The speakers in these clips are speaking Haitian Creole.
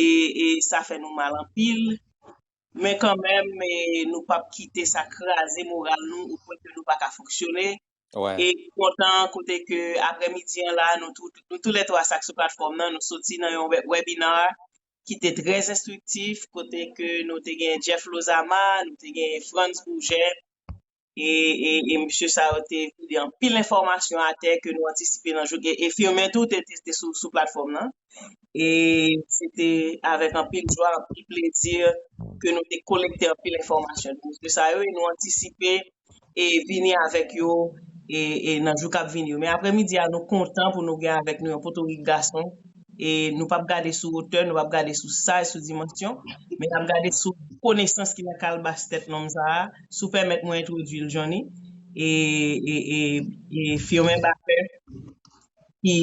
e sa fè nou mal anpil men kan menm nou pap kite sa kraze moral nou o pwen ke nou pa ka fonksyone e kontan kote ke aprè midi an la nou tou lè 3 sa k sou platfòm nan nou soti nan yon webinar ki te trè enstriktif kote ke nou te gen Jeff Lozama nou te gen Frantz Bourget. e mesye sa yo te vide anpil enfòmasyon atè ke nou antisipe nan jou e Firmin tou te sou platfòm lan e se te avèk anpil jwa, anpil plezi ke nou te kolekte anpil enfòmasyon de mesye sa yo e nou antisipe e vini avèk yo e nan jou kap vini yo. Men aprè midi a nou kontan pou nou gen avèk nou yon potorik gason e nou pap gade sou wotè, nou pap gade sou saj, sou dimansyon men nap gade sou konesans ki nan kalbas tèt nonm sa a. Si w pèmèt mwen entwodui l Johny e Firmin Baker ki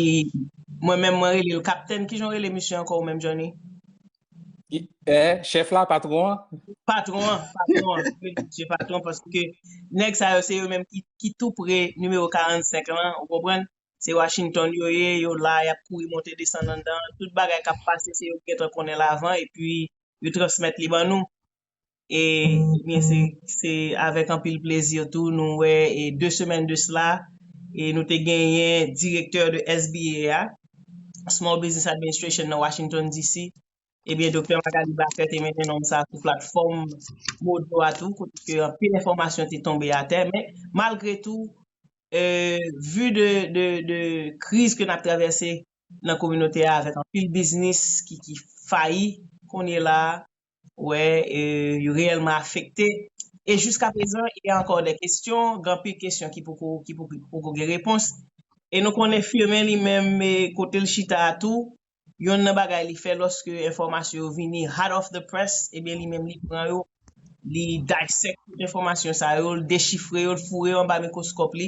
mwen menm mwen rele l kaptenn ki jan w rele misye ankò ou menm Johny? Chèf la, patwon an? Patwon an, patwon an, mwen rele misye patwon paske nèg sa yo se yo menm ki tou pre nimewo 45 lan ou konprann? Se Washington yo ye, yo la y ap kouri monte desann anndan, tout bagay k ap pase se yo ki gentan konnen l avan epi yo transmèt li ban nou. e byen se avèk anpil plezi tou nou wè e 2 semèn de sla e nou te genyen direktè de SBA a, Small Business Administration nan Washington DC. E byen Doktè Magalie Baker te mennen nonm sa sou platfòm Modo a tou kote ke anpil enfòmasyon te tonbe atè men malgre tou e vu de de kriz ke nap travèse nan kominote a avèk anpil biznis ki fayi kounye la wè yo reyèlman afekte e jiska prezan il y a ankò dè kestyon, ganpil kestyon ki poko ki poko gen repons e nou konnen Firmin li menm kote l chita a tou yonn nan bagay li fè lòske enfòmasyon yo vini hot off the press ebyen li menm li pran yo li dissect tout enfòmasyon sa yo l dechifre yo l foure yo anba mikwoskòp li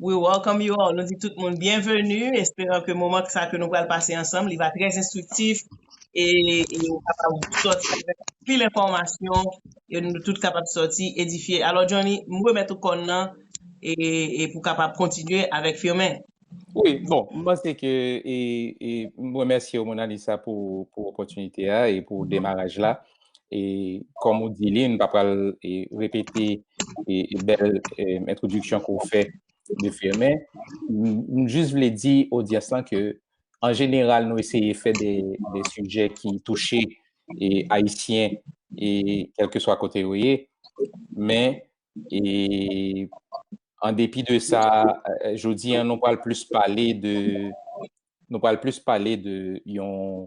We welcome you all, nou di tout moun byenveni, esperan ke moman sa ke nou pral pase ansanm li va trè enstriktif e nou kapab sòti avèk anpil enfòmasyon e nou tout kapab sòti edifye. Alò Johnny, m remèt ou kòn nan e pou kapab kontinye avèk Firmin. Wi, bon, m panse ke e m remèsye w Monalisa pou opòtinite a e pou demaraj la. e kòm ou di li, m pa pral repete bèl entwodiksyon ke w fè de Firmé, m jis vle di odyans lan ke an jeneral nou eseye fè de sijè ki touche Ayisyen e kèlkeswa kote yo ye, men an depi de sa, jodi an nou pral plis pale de nou pral plis pale de yon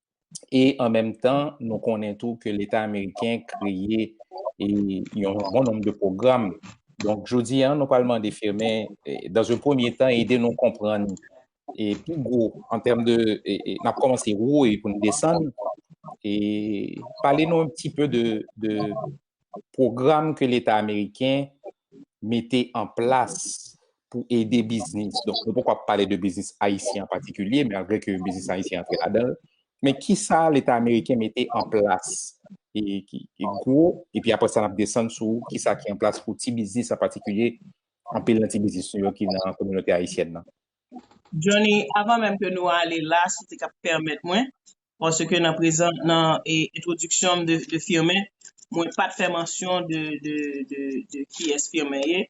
e an menm tan nou konnen tou ke leta ameriken kreye yon bon nom de program donk jodi an nou pral mande firmen dan ze premye tan ede nou konprann e pi gwo an tèm de nap komanse wou e pou n desann e pale nou an ti pe de Pwogram ke leta ameriken mete an plas pou ede biznis, donk nou poko ap pale de biznis ayisyen an patikilye, malgre ke biznis ayisyen antre ladan l, men kisa leta ameriken mete an plas ki gwo, epi apre sa n ap desann sou kisa ki an plas pou ti biznis an patikilye, anpil nan ti biznis nou yo ki nan kominote ayisyèn nan. Johnny, avan menm ke nou ale la, si w te ka pèmèt mwen, paske nan prezan, nan entwodiksyon m de Firmin, mwen pa t fè mansyon de kiyès Firmin ye.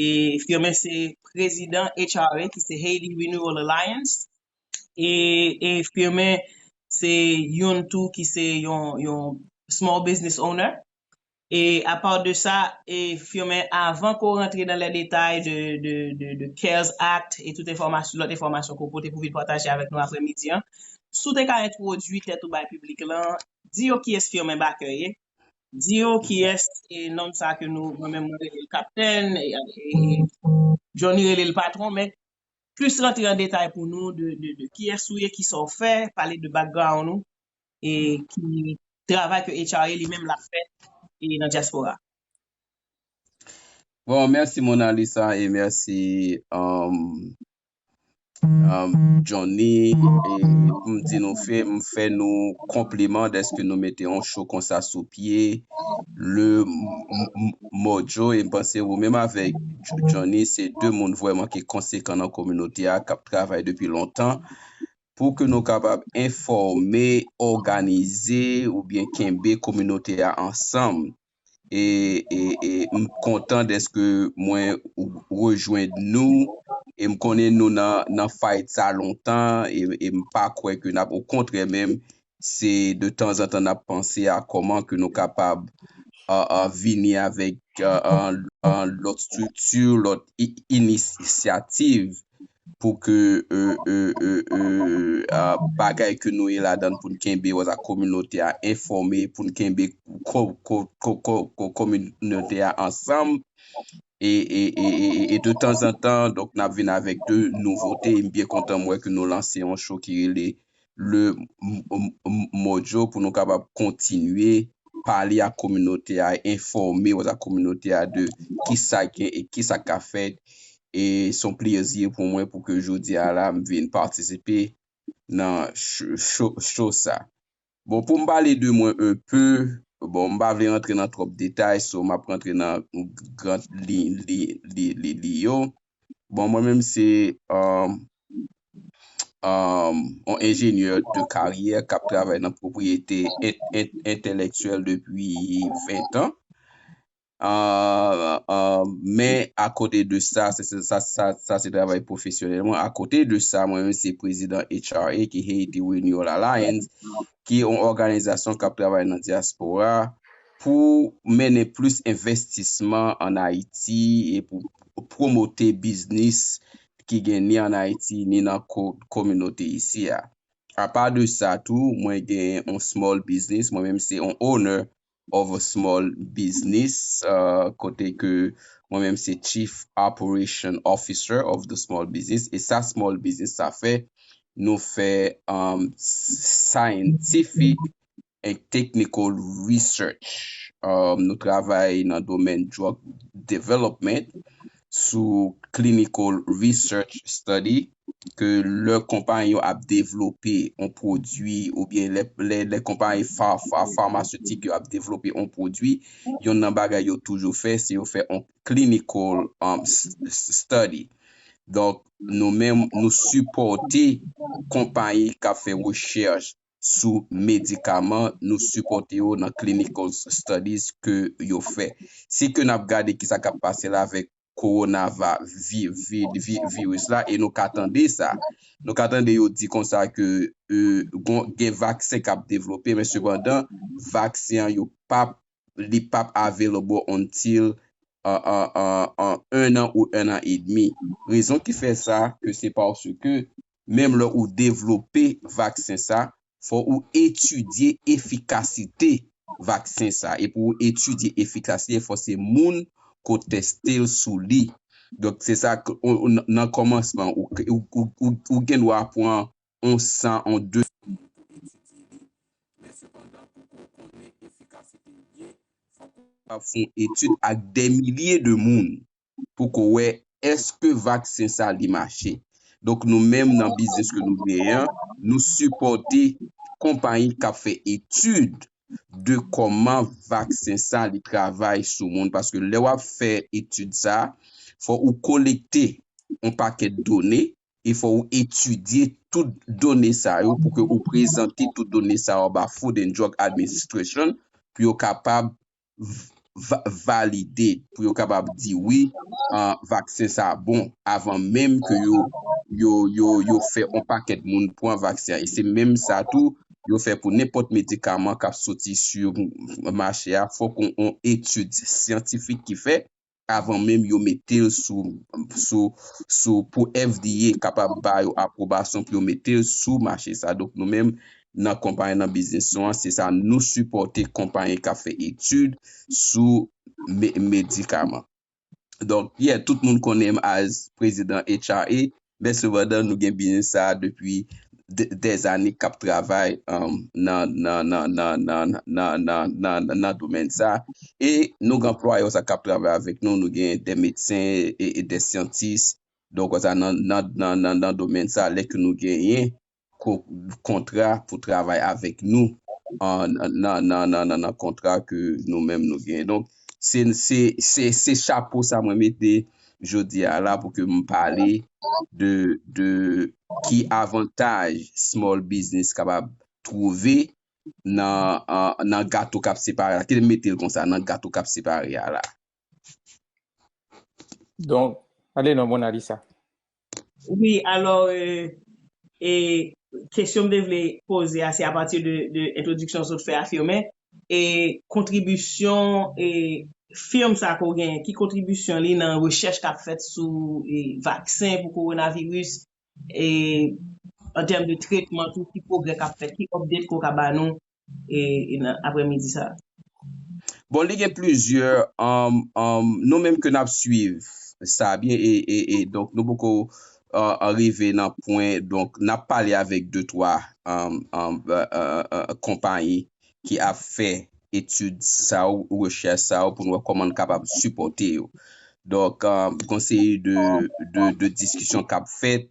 E Firmin se prezidan HRA ki se Haiti Renewal Alliance. E Firmin se youn tou ki se yon small business owner. E a part de sa, e Firmin avan ke w rantre nan les détails de de de cares act e tout enfòmasyon lòt enfòmasyon ke w pote pou vin pataje avèk nou aprè midi an, si w te ka entwodui tèt ou bay piblik lan, di yo kiyès Firmin Baker ye, di yo kiyès e nonm sa ke nou mwen menm mwen rele l kaptenn e Johnny rele l patron men plis rantre an detay pou nou de de de kiyès ou ye, kisa w fè, pale de background ou. e ki travay ke HRA li menm lap fè e nan diaspora. Bon merci Mona Lisa e merci Johnny e pou m di nou fè m fè nou konpliman deske nou mete yon show konsa sou pye le mojo e m panse ou menm avek Johnny se 2 moun vrèman ki konsekan nan kominote a kap travay depi lontan pou ke nou kapab enfòme, òganize oubyen kenbe kominote a ansanm. E m kontan dèske mwen rejwenn nou e m konnen nou nan fayt sa lontan e m pa kwè ke n ap okontrè menm se de tanzantan n ap panse a kòman ke nou kapab vini avèk lòt estrikti, lòt inisyativ pou ke bagay ke nou ye ladan pou n kenbe ak kominote a enfòme, pou n kenbe kominote a ansanm. e de tanzantan donk nap vin avèk de nouvote e m byen kontan m wè ke nou lanse yon show ki rele le mojo pou nou kapab kontinye pale ak kominote a enfòme wè sa kominote a de kisa gen e kisa ka fèt e se yon plezi pou mwen pou ke jodi a la m vin patisipe nan show sa Bon poum pale de mwen un peu, bon m pa vle rantre nan twòp detay so map rantre nan grand liy li yo. Bon mwen menm se um um on enjenyè de karyè kap travay nan pwopriyete entelektyèl depi 20 tan. Men akote de sa, sa se travay pwofesyonèl mwen, akote de sa mwen menm se prezidan HRA ki Haiti Renewal Alliance ki yon òganizasyon k ap travay nan dyaspora pou mennen plis envestisman an Ayiti e pou pwomote biznis ki gen ni an Ayiti ni nan kominote isi a. Apa de sa tou, mwen gen yon small biznis, mwen menm se yon owner of a Small Business kote ke mwen menm se Chief Operation Officer of the Small Business e sa Small Business sa fè nou fè Scientific and Technical Research nou travay nan domèn Drug Development sou clinical research study ke lè konpayi yo ap devlope yon pwodui oubyen lè konpayi pharmaceutique yo ap devlope yon pwodui yonn nan bagay yo toujou fè se yo fè yon clinical study donk nou menm nou sipòte konpayi kap fè rechèch sou medikaman nou sipòte yo nan clinical studies ke yo fè. Se ke nap gade ki sa kap pase la avèk koronava vi vi vi virus la e nou ka tande sa. Nou ka tande yo di konsa ke e gon gen vaksen kap devlope men sepandan vaksen an yo pap li pap available until an an an an 1 an ou 1 an edmi. Rezon ki fè sa ke se paske menm lè ou devlope vaksen sa fò ou etidye efikasite vaksen sa e pou ou etidye efikasite fò se moun ko testel sou li donk se sa nan kòmansman ou gen dwa pran on 100 on 200 moun pou etidye li men sepandan pou ou konnen efikasite li byen fòk ou kapab fon etid ak dè milye de moun. pou ko wè eske vaksen sa li mache. Donk nou menm nan biznis ke nou genyen an, nou sipòte konpayi kap fè etid de kòman vaksen sa li travay sou moun. Paske lè wap fè etid sa, fò ou kolekte yon pakèt done e fò ou etidye tout done sa yo pou ke ou prezante tout done sa yo ba Food and Drug Administration pou yo kapab valide pou yo kapab di wi vaksen sa bon avan menm ke yo fè yon pakèt moun pran vaksen. E se menm sa tou yo fè pou nenpòt medikaman kap soti sou mache a fòk yon etid syantifik ki fè avan menm yo mete l sou pou FDA kapab ba yo apwobasyon pou yo mete l sou mache sa. Donk nou menm nan konpayi nan biznis nou an se sa nou sipòte konpayi k ap fè etid sou medikaman. Donk yè tout moun konnen m as prezidan HRA Men sepandan nou gen biznis sa a depi dèzane k ap travay nan domèn sa a. E nou gen anplwaye konsa k ap travay avèk nou, nou gen de medsen e de syantis donk konsa nan domèn sa a lè ke nou genyen kontra pou travay avèk nou nan kontra ke nou menm nou genyen. Donk, se chapo sa mwen mete jodi a la pou ke m pale de ki avantaj small business kapab twouve nan gato k ap separe a. Kite m mete l konsa, nan gato k ap separe a la. Donk, ale non Mona Lisa. Wi, alò, e, kesyon m te vle poze a se apati de entwodiksyon sot fè a Firmin, e kontribisyon e firm sa ke w genyen, ki kontribisyon li nan rechèch k ap fèt sou e vaksen pou kowonaviris, e an tèm de tretman tou ki pwogrè k ap fèt, ki update ke w ka ba nou nan aprè midi sa. Bon li gen plizyè nou menm ke nap swiv sa byen e donk nou poko rive nan pwen donk nap pale avèk de twa konpayi ki ap fè etid sa ou rechèch sa ou pou nou wè kòman nou kapab sipòte yo donk konseye de diskisyon kap fèt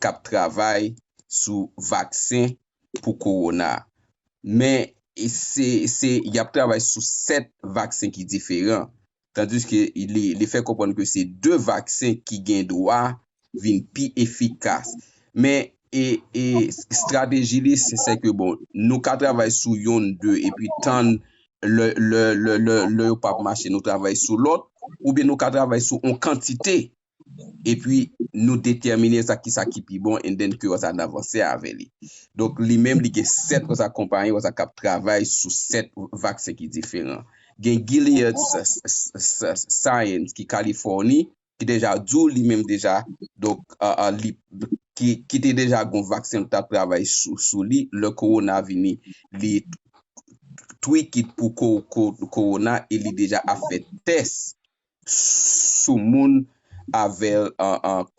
k ap travay sou vaksen pou kowona. Men se se y ap travay sou 7 vaksen ki diferan. Tandiske li fè konprann ke se 2 vaksen ki gen dwa vin pi efikas. Men e e estrateji li se se ke bon nou ka travay sou yonn 2 epi tann lè lè lè lè lè yo p ap mache nou travay sou lòt oubyen nou ka travay sou yon kantite epi nou detèmine sa ki sa ki pi bon and then ke OSA nan vanse avè li. Donk li menm li gen 7 OSA konpayi OSA kap travay sou 7 vaksen ki diferan. Gen Gilead science ki Kalifòni ki deja di w li menm deja donk li ki te deja gon vaksen li tap travay sou li lè kowona vini li tweak it pou kowona e li deja ap fè tès sou moun avèl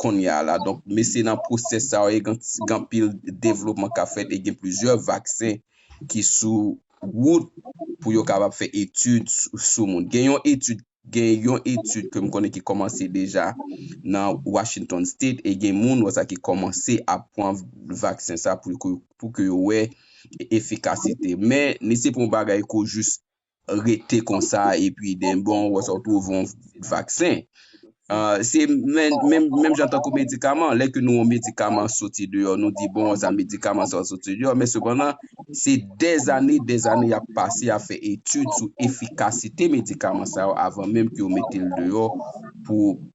kounya la donk mesye nan pwosès sa yo gen anpil devlopman kap fèt e gen plizyè vaksen ki sou wout pou yo kapab fè etid sou moun gen yon etid gen yon etid ke m konnen ki kòmanse deja nan Washington state e gen moun wè sa ki kòmanse ap pran vaksen sa pou ke yo wè efikasite men li se pou yon bagay kou jis rete konsa epi den bon ou wè sa ou twouve yon vaksen. Se menm jan tankou medikaman, lè ke nou yon medikaman soti deyò, nou di bon sa medikaman sa soti deyò, men sepandan se dèz ane, dèz ane y ap pase y ap fè etid sou efikasite medikaman sa yo avan menm ke yo mete l deyò pou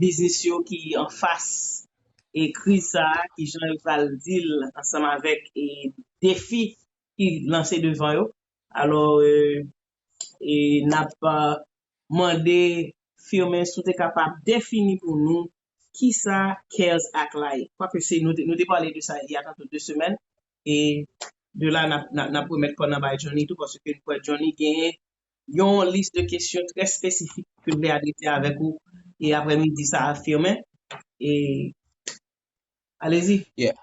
biznis yo ki anfas e kriz sa a, ki jan yo pral deal ansanm avèk e defi ki lanse devan yo. Alò e nap mande Firmin si w te kapab defini pou nou kisa cares act la ye. Kwake se nou te nou te pale de sa ya tankou 2 semèn e de la nap nap remèt kò nan bay Johnny tou paske nou kwè Johnny genyen yon lis de kesyon trè espesifik ke m vle adrese avèk ou e aprè midi sa a Firmin e alezi. Yeah.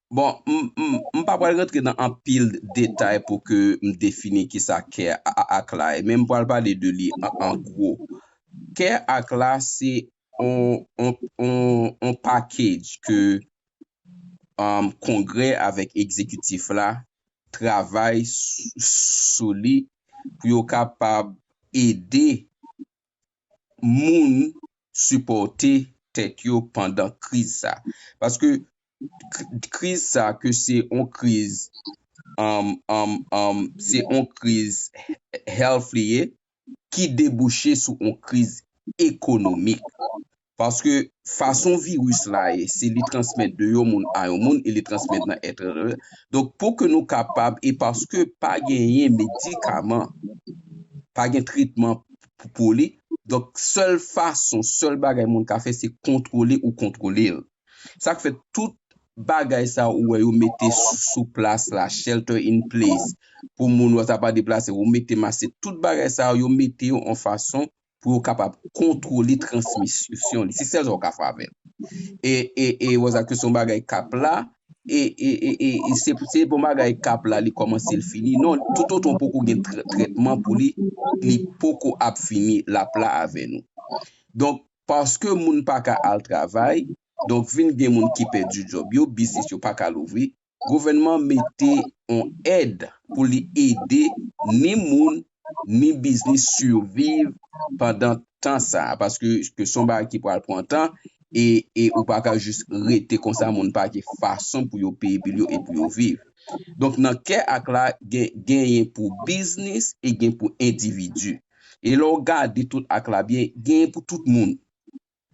Bon, m m m pa pral rantre nan anpil detay pou ke m defini kisa kè ak la ye men m pral pale de li an gwo. Kè ak la se yon package ke Kongrè avèk Ekzekitif la travay sou li pou yo kapab ede moun sipòte tèt yo pandan kriz sa. Paske kriz sa ke se yon kriz se yon kriz health li ye, ki debouche sou yon kriz ekonomik. Paske fason viris la ye, se li transmèt de yon moun a yon moun e li transmèt nan èt rr. Donk pou ke nou kapab e paske pa genyen medikaman, pa gen tretman pou li, donk sèl fason, sèl bagay moun ka fè se kontwole ou kontwole l. Sak fè tout Bagay sa ou wè yo mete sou plas la shelter in place pou moun yo ta pa deplase yo mete mas se tout Bagay sa yo mete yo an fason pou yo kapab kontwole transmisyon li se sèl sa ou ka fè avèl e wè sa ke se yon Bagay kap la e se pou se yon Bagay kap la li kòmanse li fini non tout otan ou poko gen trètman pou li li poko ap fini lap la avè nou donk paske moun pa ka al travay, donk vin gen moun ki pèdi djòb yo, biznis yo pa ka louvri, gouvènman mete on èd pou li ede ni moun ni biznis siviv pandan tan sa, paske se on bagay ki pral pran tan e ou pa ka jis rete konsa moun pa gen fason pou yo peye bil yo e pou yo viv. Donk nan kè ak la genyen pou biznis e gen pou endividi. E lè w gade tout ak la byen, genyen pou tout moun.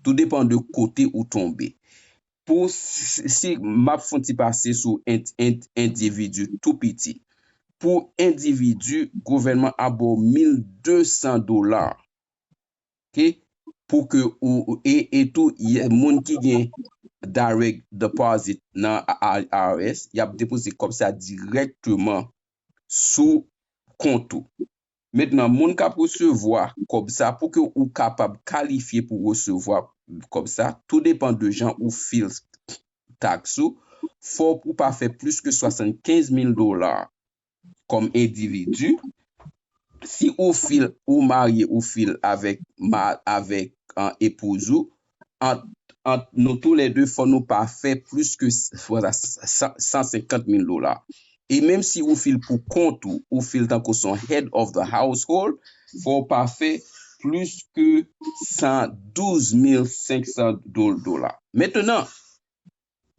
Tou depan de kote ou tonbe. Pou si m ap fon ti pase sou endividi tou piti. Pou endividi, gouvènman ap ba w 1200 dola. Ok? Pou ke ou, e tou moun ki gen direct deposit nan IRS, y ap depoze kòb sa dirèkteman sou kont ou. Mentnan moun kap resevwa kòb sa pouki ou kapab kalifye pou resevwa kòb sa tou depan de jan ou fil tax ou fòk ou pa fè plis ke 75 mil dola kòm endividi si ou fil ou marye ou fil avèk avèk epouz ou ant ant nou tou lè 2 fò nou pa fè plis ke 150 mil dola. E menm si ou fil pou kont ou, ou fil tankou son head of the household, fò ou pa fè plis ke 112,500 dola. Mentenan!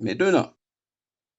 Mentenan!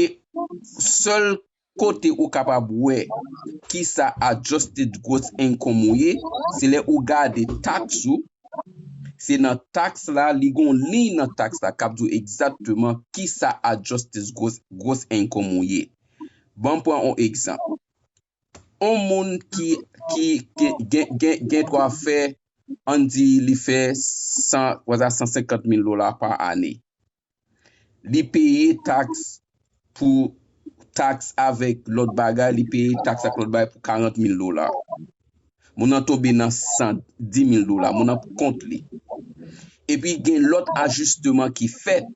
E sèl kote ou kapab wè kisa adjusted gross income ou ye, se lè ou gade tax ou, se nan tax la li gen yon liy nan tax la kap di w egzatteman kisa adjusted gross income ou ye. Banm pran yon egzanp, yon moun ki gen dwa fè ann di li fè 150 mil dola pa ane, Li peye taks pou taks avèk lòt bagay, li peye taks ak lòt bagay pou 40 mil dola. Moun nan tonbe nan 110 mil dola. Moun nan pou kont li. Epi gen lòt ajisteman ki fèt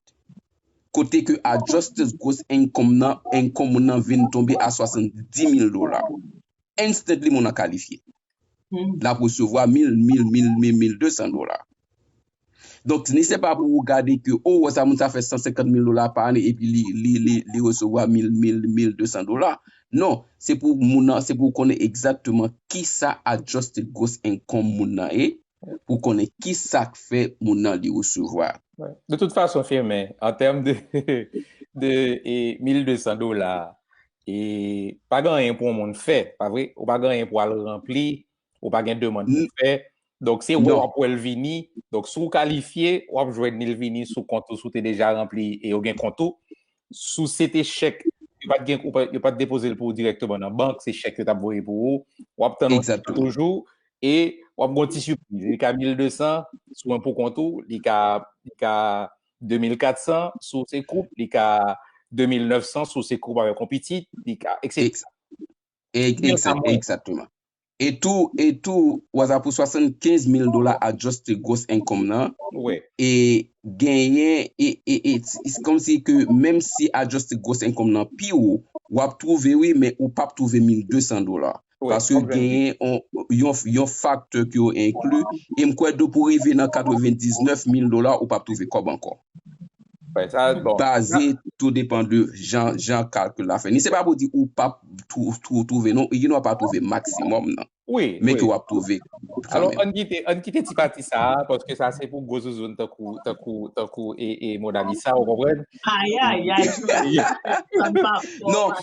kote ke adjusted gross income nan, income moun nan vin tonbe a 70 mil dola. Instantly moun nan kalifye. L ap resevwa mil, mil, mil, mil, mil 200 dola. Donk ni se pa pou ou gade ke o wè sa moun sa fè 150 mil dola pa ane epi li resevwa 1000, 1200 dola. Non, se pou moun nan, se pou ou konnen egzatteman kisa adjusted gross income moun nan ye, pou ou konnen kisa k fè moun nan li resevwa. De tout fason Firmin, an tèm de 1200 dola, e pa gen anyen pou yon moun fè, pa vre? Ou pa gen anyen pou al ranpli Ou pa gen demand pou fè. Donk se ou ap wè l vini. Donk si ou kalifye, ou ap jwenn li vini sou kont ou si ou te deja ranpli e yo gen kont ou. Si ou se te chèk, yo pa te gen, yo pa te depoze l pou ou dirèkteman nan bank, se chèk yo t ap voye pou ou. Ou ap tann yon ti tan toujou e ou ap gen yon ti sipriz. Li ka 1200 si ou pou kont ou, li ka 2400 si ou se koup, li ka 2900 si ou se koup avèk yon pitit, li ka, etc. Ekzatteman. E tou, e tou, waza pou 75 mil dola adjuste gros enkom nan, e genyen, e, e, e, it's kom si ke menm si adjuste gros enkom nan pi ou, wap twouve wi men ou pap twouve 1200 dola. Paske genyen on, yon, yon fakte ki yo enkli, e m kwè dou pou rive nan 99 mil dola ou pap twouve kob ankor. Baze tou depan de jan kalkil la fè. Ni se pa pou di ou pap twouve non, ou ginwa pa twouve maksimòm nan. Men ke wap twouve kanmen. Alò, an kite ti pati sa a, paske sa se pou gwo zouzoun tankou e Monalisa, ou konprann? Ayayay, Jovina, sa m pa fò. Non,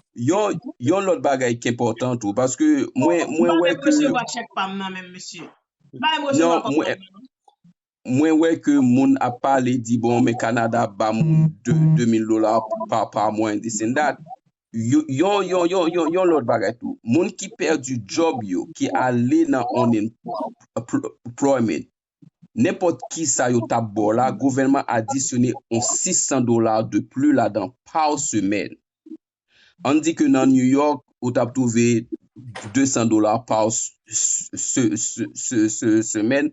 yon lòt bagay ki enpòtan tou, paske mwen wè ke... Mwen pa resevwa chèk pa m nan menm, mesye. M pa resevwa kòb pa m nan. Mwen wè ke moun ap pale di bon men Canada ap ba moun 2 2000 dola pa par mois and this and that. Yon yon yon yon yon lòt bagay tou. Moun ki pèdi job yo ki ale nan unemployment nenpòt kisa yo tap baw la gouvènman adisyone yon 600 dola de plus ladan par semaine. Ann di ke nan New York ou tap trouve 200 dola par semaine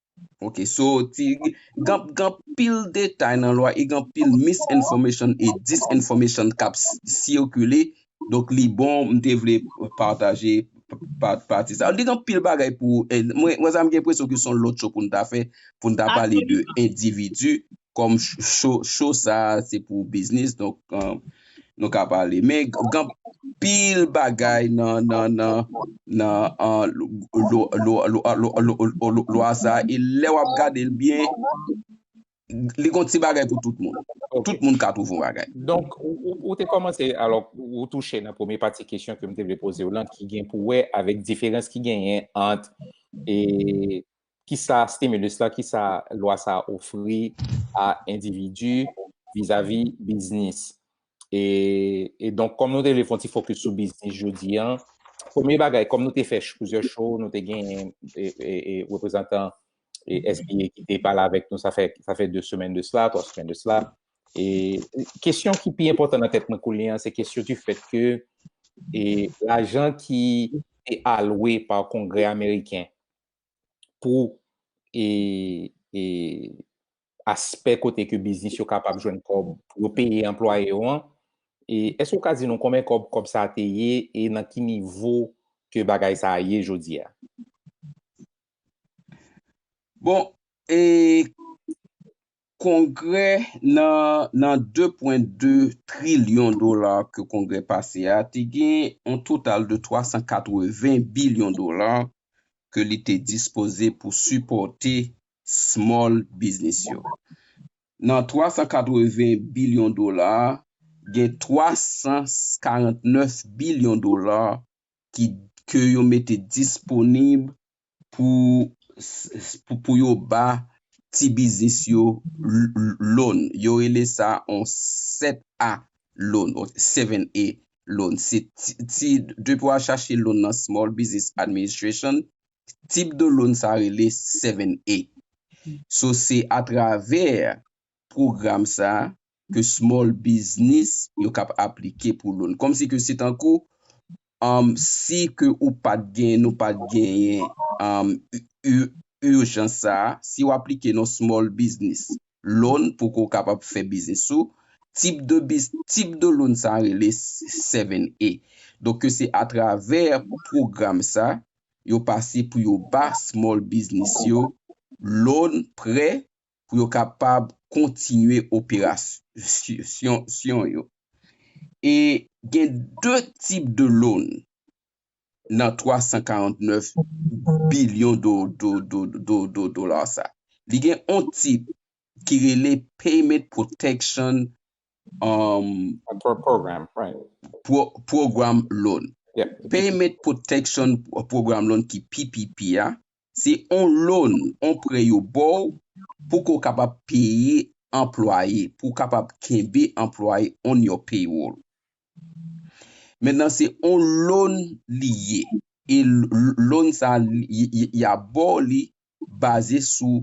Ok so ti gan gan pil detay nan lwa e gan pil mis enfòmesyon e dis enfòmesyon kap sikile donk li bon m te vle pataje pati sa li gan pil bagay pou mwen wè sa m gen presyon ke son lòt cho pou n ta fè pou n ta pale de endividi kòm cho sa se pou biznis donk nou ka pale men gen anpil bagay nan lwa sa e lè wap gade l byen li gon ti bagay pou tout moun tout moun ka twouve yon bagay Donk ou te kòmanse alò ou touche nan premye pati kesyon ke m te vle poze w lan ki gen pou wè avèk diferans ki genyen ant ki sa stimulus la, ki sa lwa sa a ofri a endividi vizavi biznis. E, e donk kòm nou te vle fon ti fokis sou biznis jodi an, premye bagay kòm nou te fè plizyè show, nou te gen e, e, e reprezantan e SBA ki te pale avèk nou sa fè sa fè 2 semèn de sla, 3 semèn de sla. E kesyon ki pi enpòtan nan tèt mwen kounye an se kesyon di fèt ke e lajan ki te alwe pa Kongrè Ameriken pou aspè kote ke biznis yo kapab jwenn kòb pou yo peye anplwaye yo an, èske ou ka di nou konbyen kòb kòb sa te ye e nan ki nivo ke bagay sa a ye jodi a? Bon, Kongrè nan nan 2 pwen 2 trilyon dola ke kongrè pase a te gen yon total de 380 bilyon dola ke li te dispoze pou sipòte small biznis yo. Nan 380 bilyon dola a, gen 349 bilyon dola ki ke yo mete disponib pou yo ba ti biznis yo loan, yo rele sa yon 7 a loan, 7A loan, se ti, depi wa chache loan nan Small Business Administration, tip de loan sa rele 7A. So se atravè pwogram sa a ke small biznis yo kap aplike pou loan. Kòmsi ke se tankou si ke ou pat gen, nou pat genyen urjans sa a, si ou aplike nan small biznis loan pou ke ou kapab fè biznis ou, tip de biz, tip de loan sa a rele 7A. Donk ke se atravè pwogram sa a, yo pase pou yo ba small biznis yo loan, prè, pou yo kapab kontinye operasyon yo. E gen 2 tip de loan nan 349 bilyon dola sa. Li gen yon tip ki rele Payment Protection Program Loan. Payment Protection Program Loan ki PPP a, Se on loan, on prè yo baw pou ke w kapab peye anplwaye, pou w kapab kenbe anplwaye on your payroll. Mentnan se on loan li ye e loan sa ya baw li baze sou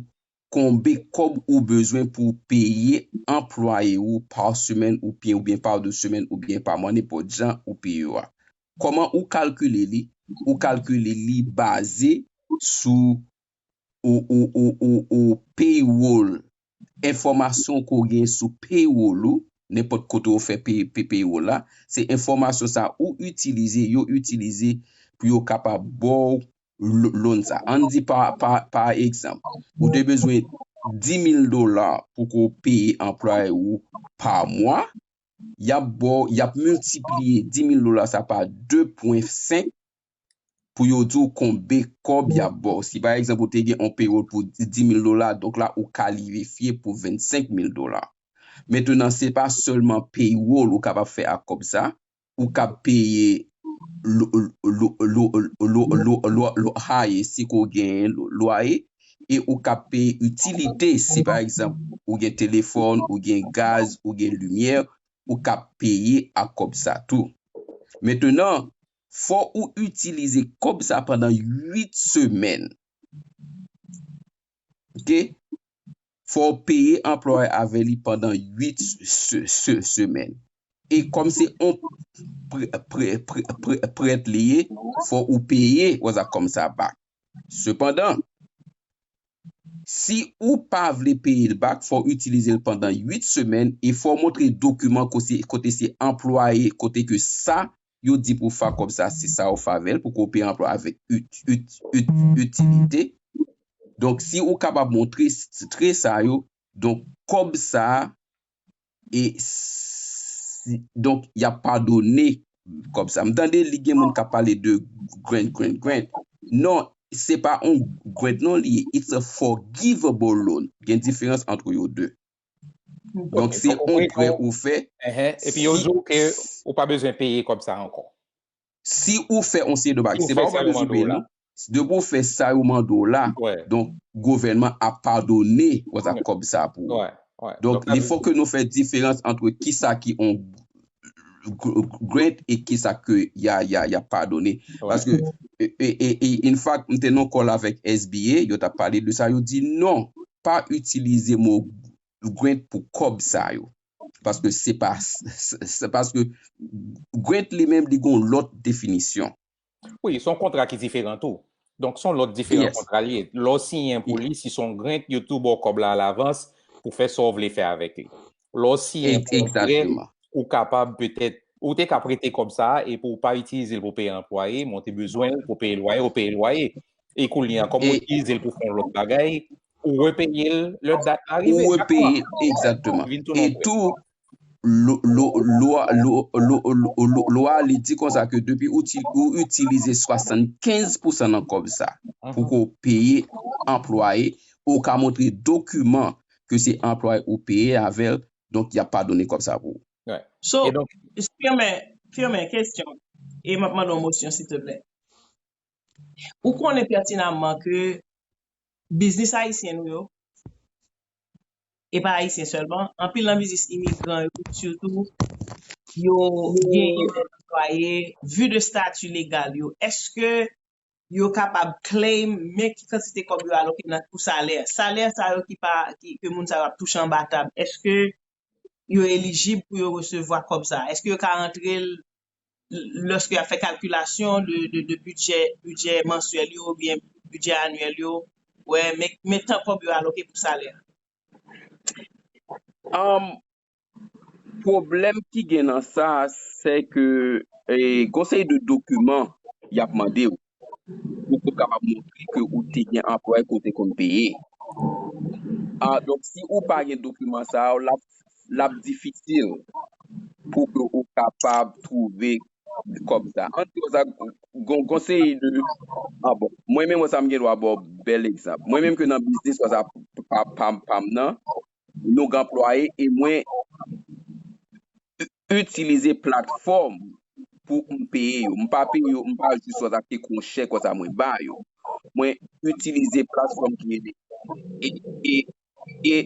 konbe kòb ou bezwen pou peye anplwaye ou pa semèn ou pye oubyen pa 2 semèn oubyen pa mwa nenpòt jan ou pye yo a. Kòman ou kalkile li, ou kalkile li baze sou ou ou ou ou ou payroll enfòmasyon ke w gen sou payroll ou nenpòt kote ou fè pay pay payroll la se enfòmasyon sa ou itilize yo itilize pou yo kapab ba w loan sa. Ann di pa egzanp, ou te bezwen 10.000 dola pou ko peye anplwaye ou pa mwa, yap bo, yap miltipliye 10.000 dola sa pa 2.5 pou yo di w konbe kob yap bo. Si pa egzanp ou te gen yon payroll pou 10.000 dola, donk la ou kalirifye pou 25.000 dola. Mentenan se pa selman payroll ou kapab fè ak kob sa, ou kab peye loaye si ke w genyen lwaye e ou kab peye itilite si pa egzanp ou gen telefòn, ou gen gaz, ou gen limyè, ou kab peye ak kòb sa tou. Mentenan, fò ou itilize kòb sa pandan 8 semèn. 2 fò w peye anplwaye a avè li pandan 8 semèn e kòm se yon prèt li ye fò ou peye wazak kòm sa bak sepandan si ou pa vle peye l bak fò w itilize l pandan 8 semèn e fò w montre dokiman kote se anplwaye kote ke sa yo di pou fa kòb sa si sa ou fa vèl pou kopi anplwa avèk itilite donk si ou kapab montre tre sa yo donk kòb sa e si donk yap padone kòb sa m tande li gen moun kap pale de grant grant grant non se pa on grant non li ye it's a forgivable loan gen diferans antre yo 2. Donk se yon prè ou fè. Epi yo di w ke ou pa bezwen peye kòb sa ankò. Si ou fè yon seri de bagay, se pa ou pa bezwen peye non. Depi ou fè sa yo mande w la, donk gouvènman ap padone kòb sa pou ou. Donk li fò ke nou fè diferans antre ki sa ki yon grant e ki sa ke ya padone. Paske yon fwa m te nan kòl avèk SBA, yo ta pale de sa, yo di non, pa itilize mo grant pou kòb sa yo. Paske se pa, se paske grant li menm li gen yon lòt definisyon. Wi, se yon kontra ki diferan tou. Donk se yon lòt diferan kontra li ye. Lè w siyen pou li, si se yon grant, yo tou ba w kòb la alavans pou fè sa w vle fè avèk li. Lè w siyen yon prè, Exactement. ou kapab petèt, ou te ka prete kòb sa a epi w pa itilize l pou peye anplwaye, men w te bezwen l pou peye lwaye, ou peye lwaye. E kounye a, kòm ou E itilize l pou fè yon lòt bagay, ou repeye l lè dat la ou rive. Chak mwa, repeye l, exactement. li vin tounen yon E prè. tou, lo, lo, lwa, lo, lo, lo, lo, lwa a li di konsa ke depi ou ti, ou itilize 75 pousan nan kòb sa a pou Mhm. ke w peye anplwaye, ou ka montre dokiman ke se anplwaye ou peye avèl donk yap pa done kòb sa pou ou. So, firme, firme, kesyon, e map mande yon mosyon silteplè. Ou konnen pètinamman ke biznis ayisyen nou yo, e pa ayisyen sèlman, anpil nan biznis imigran yo sitou, yo genyen anplwaye, vu de stati legal yo, eske yo kapab claim men ki kantite kòb yo aloke nan pou salè. Salè sa yo ki pa, ke moun sa yo ap touche anba tab, eske yo elijib pou yo resevwa kòb sa? Eske yo ka rantre l lòske y ap fè kalkilasyon de bidjè, bidjè mansyèl yo oubyen bidjè anyèl yo, wè men tan kòb yo aloke pou salè? Pwoblèm ki gen nan sa a se ke gon seri de dokiman y ap mande ou pou ou kapab montre ke ou te gen anplwaye ke ou te konn peye. Donk, si ou pa gen dokiman sa yo, l ap difisil pou ke ou kapab twouve kòb sa a. Gon seri de, an bon, mwen menm wè sa m gen dwa ba w bèl egzanp. Mwen menm ke nan biznis whatsapp pa m nan, log anplwaye e mwen itilize platfòm pou m peye yo. M pa peye yo, m pa jis wè ak te kwochè konsa mwen ba yo. Mwen itilize platfòm ki rele e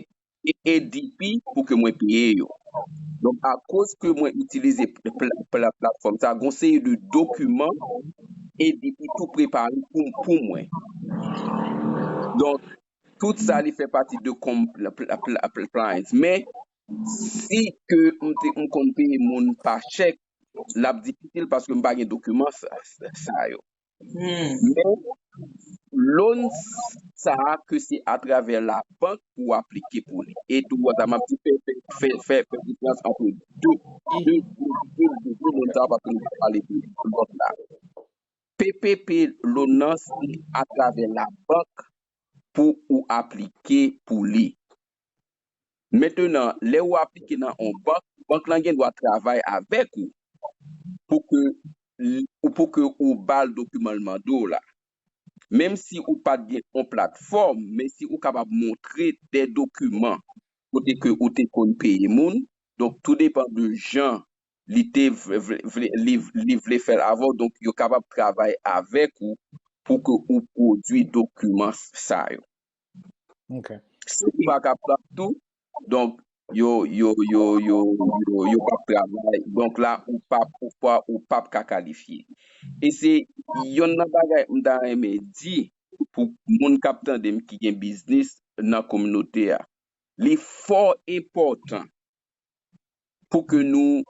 e ADP pou ke mwen peye yo. Donk akoz ke mwen itilize platfòm sa, gon seri de dokiman ADP tou prepare pou mwen. Donk tout sa li fè pati de com pliance men si ke m te m konn peye moun pa chèk lap difisil paske m pa gen dokiman sa yo men loan sa ke se atravè la bank pou w aplike pou li e tou wè sa map di fè fè fè fè diferans antre 2 de de de de de loan sa paske m pale de lòt la. PPP loan nan se atravè labank pou ou aplike pou li. Mentenan, lè ou aplike nan yon bank, bank lan gen dwa travay avèk ou pou ke ou pou ke ou ba l dokiman l mande w la. Menm si ou pa t gen yon platfòm, men si ou kapab montre de dokiman kote ke ou te konn peye moun, donk tou depan de jan li te vle li vle fèl avè w donk yo kapab travay avèk ou pou ke ou pwodwi dokiman sa yo ok si ou pa kapab tou donk yo yo yo yo yo pap travay donk la ou pap ou pa ou pap ka kalifye e se yonn nan bagay m ta renmen di pou moun kap tande m ki gen biznis nan kominote a li fò enpòtan pou ke nou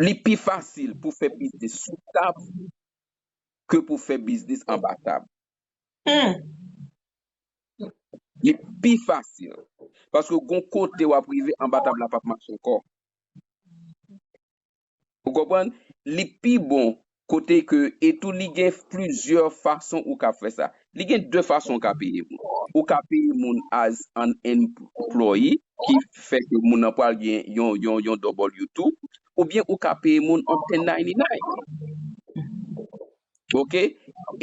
li pi fasil pou fè biznis sou tab ke pou fè biznis anba tab li pi fasil paske gon kote wap rive anba tab la pap mache ankò. Ou konprann? Li pi bon kote ke e tou li gen plizyè fason ou kab fè sa. Li gen de fason ou ka peye moun. Ou ka peye moun as an employee ki fè ke moun nan pral gen yon W2 oubyen ou ka peye moun an 1099. Ok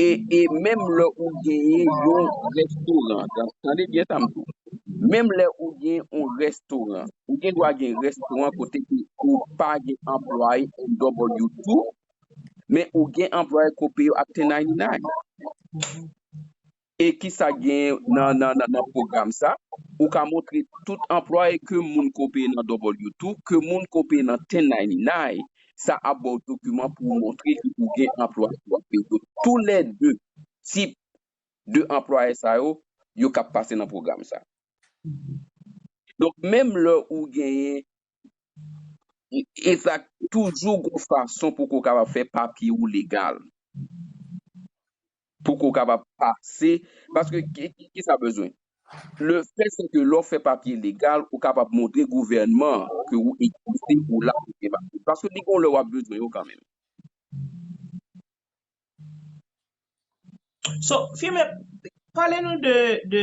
e e menm lè ou genyen yon restoran tan tande byen sa m di w menm lè ou gen yon restoran ou gen dwa gen restoran kote ke ou pa gen anplwaye en dòk bò diw tou men ou gen anplwaye ke w peye yo ak 1099 e kisa k genyen nan pwogram sa, ou ka montre tout anplwaye ke moun ke w peye nan W-2, ke moun ke w peye nan 1099, sa ap ba w dokiman pou w montre ke ou gen anplwaye ke w ap peye yo. Tou lè 2 tip de anplwaye sa yo, yo kab pase nan pwogram sa. Donk menm lè ou genyen Exact toujou gon fason pou ke w kapab fè papye ou legal. Pou ke w kapab pase, paske kisa bezwen? Le fè se ke lè w fè papye legal ou kapab montre gouvènman an ke ou egziste, ou la pou fè papye. Paske li gon lè w ap bezwen yo kanmenm. So, Firmin, pale nou de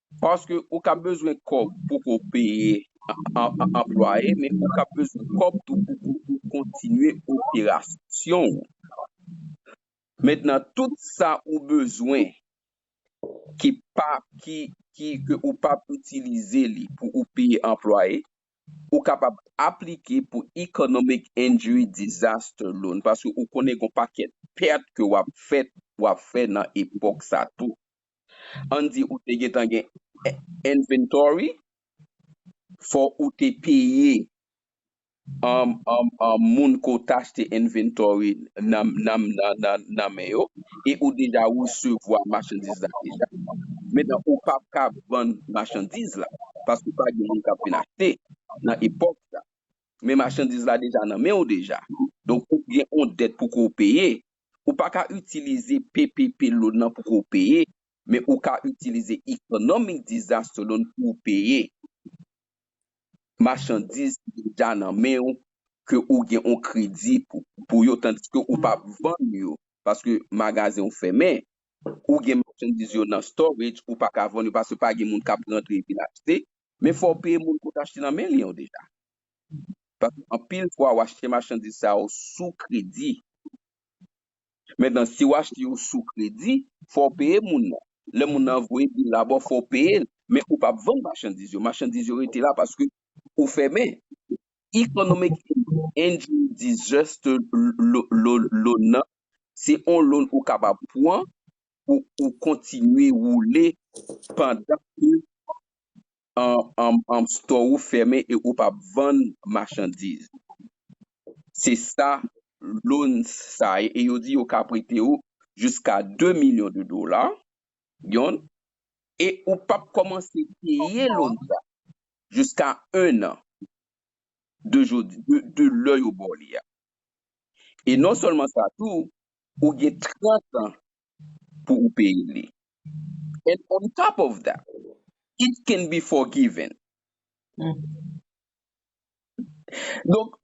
Paske ou ka bezwen kòb pou ke w peye anplwaye, men ou ka bezwen kòb tou pou ke w kontinye operasyon ou. Mentnan tout sa ou bezwen ki pa, ki, ki, ke ou pa p itilize li pou ou peye anplwaye, ou kapab aplike pou Economic Injury Disaster Loan, paske ou konnen gen yon pakèt pèt ke w ap fèt, w ap fè nan epòk sa tou. Ann di ou te gentan gen inventory fò ou te peye moun ke w t achte inventory nan men yo e ou deja resevwa machandiz la deja. Mentnan ou pa p ka vann machandiz la paske pa gen moun k ap vin achte nan epòk sa. Men machandiz la deja nan men w deja. Donk ou gen yon dèt pou ke w peye Ou pa ka itilize ppp loan nan pou ke w peye, men ou ka itilize economic disaster loan pou w peye machandiz ki deja nan men w ke ou gen yon kredi pou yo tandiske ou pa vann yo paske magazen w fèmen, ou gen machandiz yo nan storage ou pa ka vann yo paske pa gen moun k ap rantre vin achte, men fò w peye moun ke w te achte nan men li an deja. Paske anpil fwa ou achte machandiz sa yo sou kredi. Mentnan si ou achte yo sou kredi, fò ou peye moun nan. Lè moun nan voye bil la ba w, fò ou peye l. Men ou p ap vann machandiz yo. Machandiz yo rete la paske ou fèmen. Economic injury disaster loan nan, se yon loan ou kapab pran pou ou kontinye woule pandan ke an store ou fèmen e ou pap vann machandiz se sa loan sa ye e yo di yo ka prete ou jiska 2 milyon de dola yon e ou pap kòmanse peye loan sa jiska 1 an de jodi de lè yo baw li a e non sèlman sa tou ou gen 30 an pou ou peye li. And on top of that, it can be forgiven. Donk,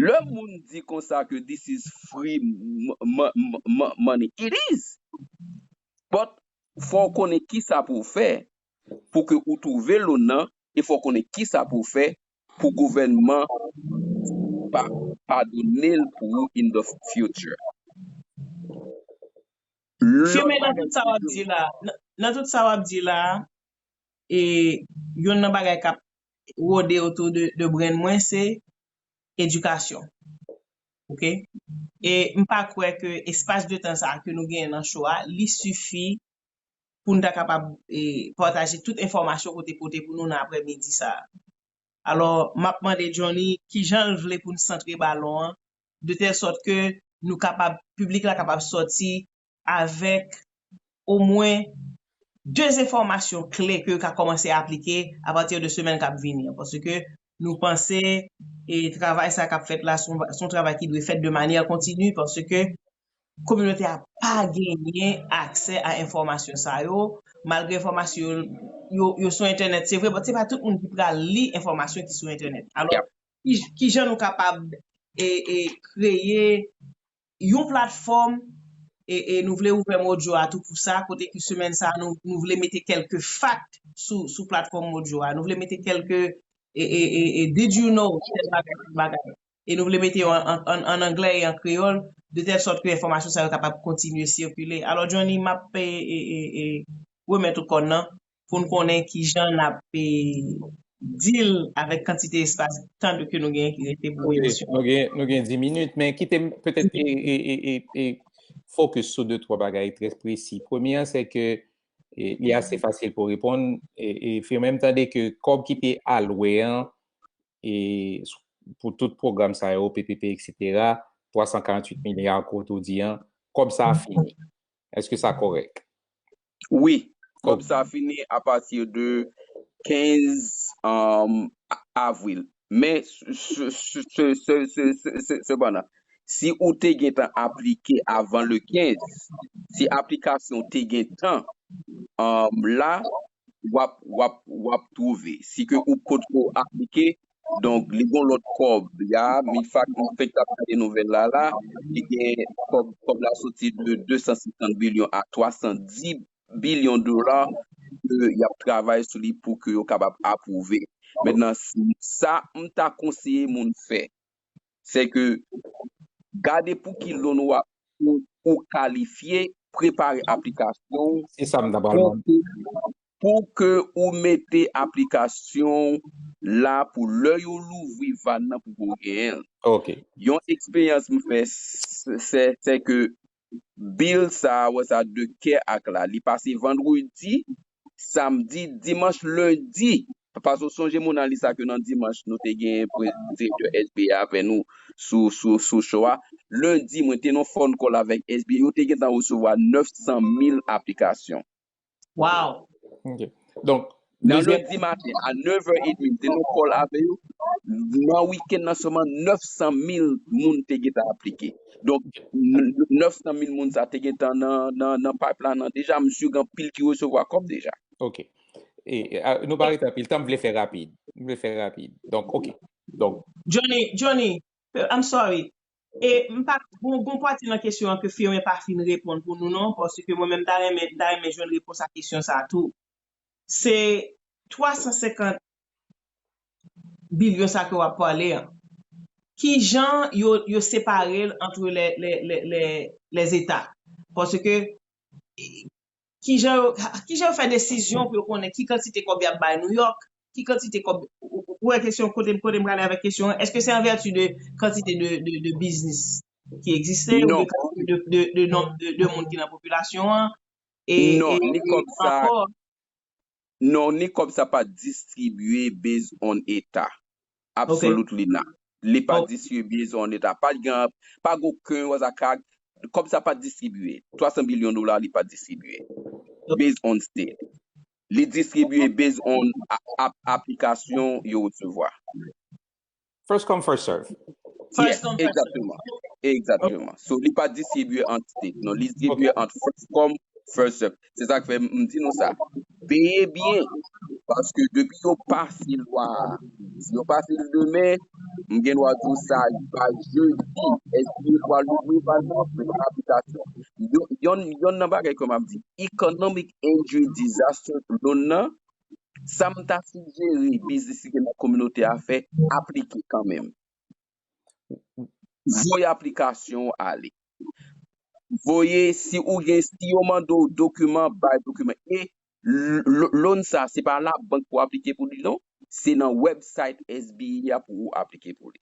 lè moun di konsa ke this is free money, it is! But, fò ou konnen kisa pou ou fè pou ke ou twouve loan nan e fò ou konnen kisa pou ou fè pou gouvènman pa padone l pou ou in the future. Fimen nan tout sa wap di la nan tout sa wap di la e youn nan bagay kap rode otou de brenn mwen se edikasyon ok e mpa kwè ke espas de tan sa ke nou genyen nan cho a li sifi pou n ta kapab pataje tout enfòmasyon ke w te pote pou nou nan aprè midi sa a. Alò, m ap mande Johnny ki jan l vle pou n santre balon an de tèl sòt ke nou kapab, piblik la kapab sòti avèk omwen 2 enfòmasyon kle ke yo ka kòmanse aplike apati de semèn k ap vini an. Paske nou panse travay sa k ap fèt la se yon travay ki dwe fèt de manyè kontini paske Kominote a pa genyen aksè a enfòmasyon sa yo, malgre enfòmasyon yo sou entènèt se vre, but se pa tout moun ki pral li enfòmasyon ki sou entènèt. Alò, ki jan nou kapab kreye yon platfòm, e nou vle ouvè Mojo a tou pou sa, kote ke semèn sa a nou vle mete kèlke fakt sou platfòm Mojo a, nou vle mete kèlke did you know, kèlke bagay. e nou vle mete yo an anglè e an kreyòl de tèl sòt ke enfòmasyon sa yo kapab kontinye sikile. Alò Johnny m ap remèt ou kòn nan pou n konnen ki jan n ap dil avèk kantite espas tan ke nou genyen ki rete pou emisyon an. Ok, nou gen di minit men kite m petèt fokis sou de twa bagay trè presi. Premye an se ke li ase fasil pou reponn, Firmin m tande ke kòb ki te alwe an e pou tout pwogram sa yo, PPP, eksetera, 348 milya an kote ou di an, kòb sa a fini. Eske sa kòrèk? Wi, kòb sa a fini a pati de 15 avril. Men, sepandan, si ou te gen tan aplike avan le 15, si aplikasyon ou te gen tan, la, wap wap wap trouve si ke ou pot ko aplike donk li gon lot kob ya mi fak m fenk tap gade nouvel la la li gen kob kob la soti de 250 bilyon a 310 bilyon dola ke yap travay sou li pou ke yo kapab aprouve mentnan sa m ta konseye moun fè se ke gade pou ki loan wap ou kalifye, prepare aplikasyon ou, Se sa m ta pral mande. pou ke ou mete aplikasyon ou la pou lè yo louvri vann nan pou ke ou genyen l. Ok. Yon eksperyans m fè se ke Bill sa wè sa de kè ak la li pase vandredi samdi dimanch lendi paske ou sonje moun alis la ke nan dimanch nou te gen direktè SBA avè nou sou sou sou show a lendi mwen te nan phone call avèk SBA yo te gentan resevwa 900 mil aplikasyon Waw. Ok. Donk. Nan lundi maten a 9 è edmi m te nan kòl avè yo. Nan wikenn nan sèlman 900 mil moun te gen tan aplike. Donk 900 mil moun sa te gen tan nan payp la nan deja. M si gen anpil ki resevwa kòb deja. Ok. E nou pa rete anpil tan m vle fè rapid. M vle fè rapid. Donk ok. Donk. Johnny, Johnny, I'm sorry. E m pa gon gon pati nan kesyon an ke Firmin pa fin reponn pou nou non, paske mwen menm m ta renmen m ta renmen jwenn repons a kesyon sa tou. Se 350 billion sa ke w ap pale an, ki jan yo yo separe l antre lè lè lè lè lè lè zeta? Paske Kijan yo kijan yo fè desizyon pou yo konnen ki kantite kòb y ap bay Nouyòk, ki kantite kòb, ou wè kesyon kote m kote m prale avèk kesyon an, èske se an vèti de kantite de de de biznis ki egziste oubyen kantite de de de nonb de de moun ki nan popilasyon an? Non, ni kòb sa Non ni kob sa pa distribye based on eta. Ok. Absolutely not. Li pa Ok. distribye based on eta. Pa gen pa gen oken waz ak ak kob sa pa distribye. 300 billion dola li pa distribye based on state. Li distribye based on a a aplikasyon yo resevwa. First come, first serve. Yes, egzakteman. Egzakteman. So, li pa distribye ant state non. Li distribye ant first come, first serve. Se sa k fè m di nou sa. Veye byen, paske depi yo pase lwa a, si yo pase l demen, m gen dwa di w sa riva jedi, SBA pral louvri bal nan pou yon aplikasyon. Yonn nan bagay ke m ap di, economic injury disaster loan nan, sa m ta sijere biznis ki gen nan kominote a fè, aplike kanmenm. Voye aplikasyon ou ale. Voye si ou gen, si yo mande ou dokiman, bay dokiman. E loan sa se pa la bank pou aplike pou li non, se nan website SBA pou ou aplike pou li.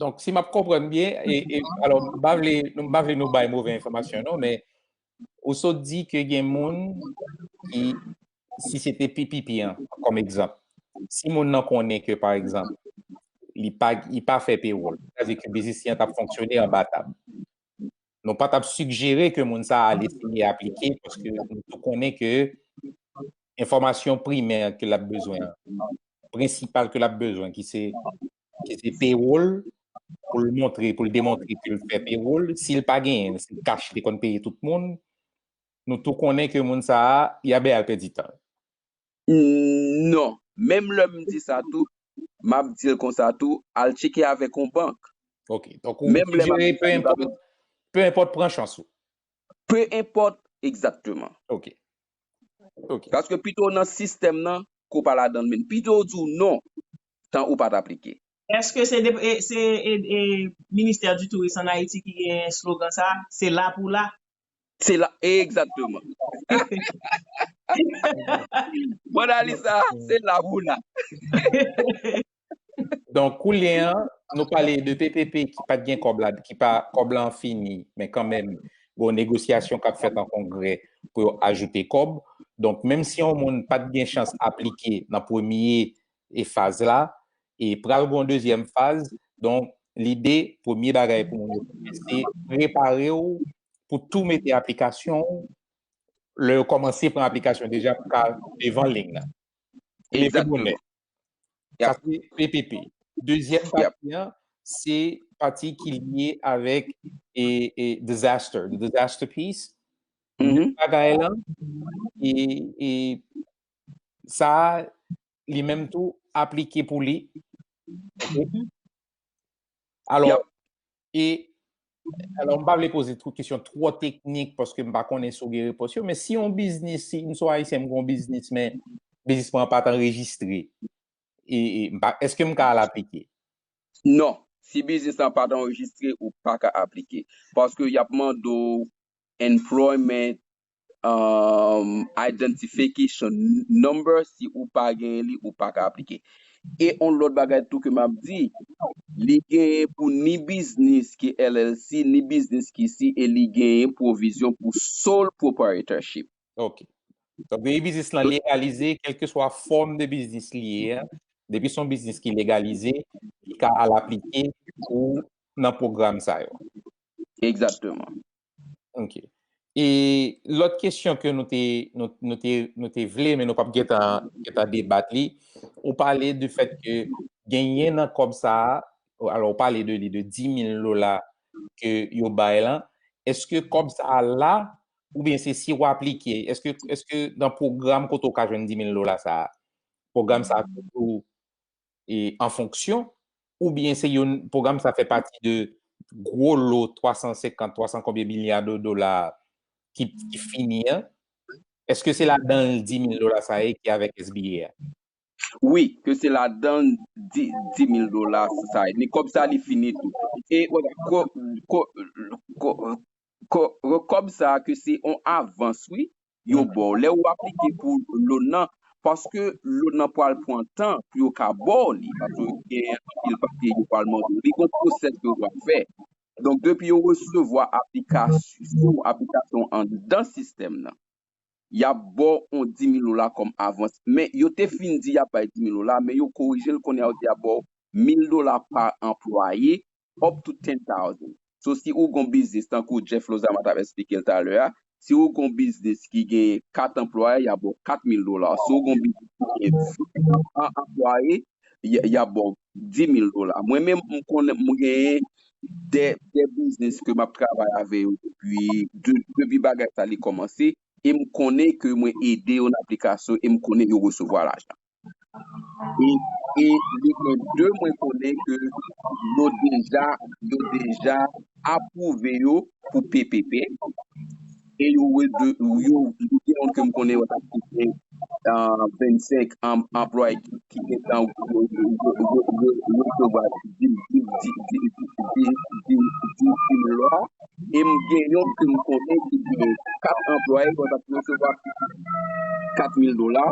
Donk, si m ap konprann byen, e, alò, m pa vle, m pa vle nou bay move enfòmasyon non, men, ou sot di ke gen moun ki, si se te PPP an, kòm egzanp, si moun nan konnen ke, pa egzanp, li pa, li pa fè pewòl, sa vle di ke biznis li an t ap fonksyone anba tab. nou pa t ap sigjere ke moun sa a al eseye aplike paske nou tou konnen ke enfòmasyon primè ke l ap bezwen an, prensipal ke l ap bezwen ki se ki se payroll pou l montre, pou l demontre ke l fè payroll, si l pa genyen l, se kach li konn peye tout moun, nou tou konnen ke moun sa a, ya bè al pèdi tan l. Non, menm lè m di sa tou, m ap di l konsa tou, al tcheke avèk on bank. Ok, donk ou sijere pe enpòt, pe enpòt pran chans ou. Pe enpòt, egzatteman. Ok, ok. Paske pito w nan sistèm nan, ke w pa ladan l menm. Pito yo di w non, tan ou pa t aplike. Eske se Ministè di Touris an Ayiti ki gen slogan sa a, se la pou la? Se la exactement. Bon Alisa, se la pou w la. Donk koulye a nou pale de ppp ki pat gen kòb la, ki pa kòb la an fini, men kanmenm gon negosyasyon kap fèt an kongrè pou yo ajoute kòb. Donk menm si yon moun pat gen chans aplike nan premye faz la, e pral gon dezyèm faz donk lide premye bagay pou moun yo fè se prepare w pou tou mete aplikasyon w lè yo kòmanse pran aplikasyon deja pou ka devan ling nan e leve bonè sa se PPP dezyèm pati an se pati ki lye avèk e disaster the disaster piece menm bagay lan e sa li menm tou aplike pou li. Alò, e, alò mpa vle poze tout kesyon twò teknik paske mpa konnen sou gen repons yo, men si yon biznis, si msou ayisyen mgon biznis men biznis mwen pat anrejistre, e, e mpa, eske mka al aplike? Non, si biznis lan pat anrejistre ou paka aplike paske yap mande w Employment Identification number si ou pa genyen li ou paka aplike e yon lòt bagay tou ke map di li genyen pou ni biznis ki LLC ni biznis ki si e li genyen pwovizyon pou sole proprietorship. Ok. Donk depi biznis lan legalize kelkeswa fòm de biznis li ye a, depi se yon biznis ki legalize li ka al aplike pou nan pwogram sa yo. Egzakteman. Ok. E lòt kesyon ke nou te, nou, nou te, nou te vle men nou pap gentan, gentan debat li, ou pale de fèt ke genyen nan kòb sa a, alò ou pale de li, de 10.000 dola ke yo bay lan, eske kòb sa a la oubyen se si ou aplike, eske, eske nan pwogram kote ou ka jwenn 10.000 dola sa a, pwogram sa a toujou an fonksyon oubyen se yon pwogram sa fè pati de gwo lo 350, 300 konbyen milya de dola ki fini an? Eske se ladan l 10 mil dola sa ye ki avèk SBA a? Wi, ke se ladan l 10 mil dola sa ye. Men kòb sa li fini tou. E kòb sa ke se yon avans wi. yo baw lè ou aplike pou loan nan paske loan nan pwal pwan tan pou yo ka baw li paske gen anpil papye yo pwal mande ou li gon pwosès ke ou pwal fè donk depi yo resevwa aplikasyon aplikasyon ou andan sistèm nan yap baw on dimil dola kòm avans men yo te fin di yap bay dimil dola men yo korijel kounye a yo di yap baw mil dola pa anplwaye up to 10,000. So si ou gon biznis tankou Jeff Lozama tap esplike l talè a, si ou gon biznis ki gen 4 anplwaye yap baw 4,000 dola, si ou gon biznis ki gen 100 anplwaye yap baw 10,000 dola. Mwen menm m konnen m genyen 2 biznis ke map travay avè yo depi depi bagay sa li kòmanse e m konnen ke mwen ede yo nan aplikasyon e m konnen yo resevwa lajan. e li gen 2 mwen konnen ke yo deja yo deja apwouve yo pou ppp e yo yo gen youn ke m konnen yo tap touche 25 anplwaye ki gentan resevwa 10 mil dola. E m gen yon ke m konnen ki gen 4 anplwaye bon ap resevwa pi piti 4000 dola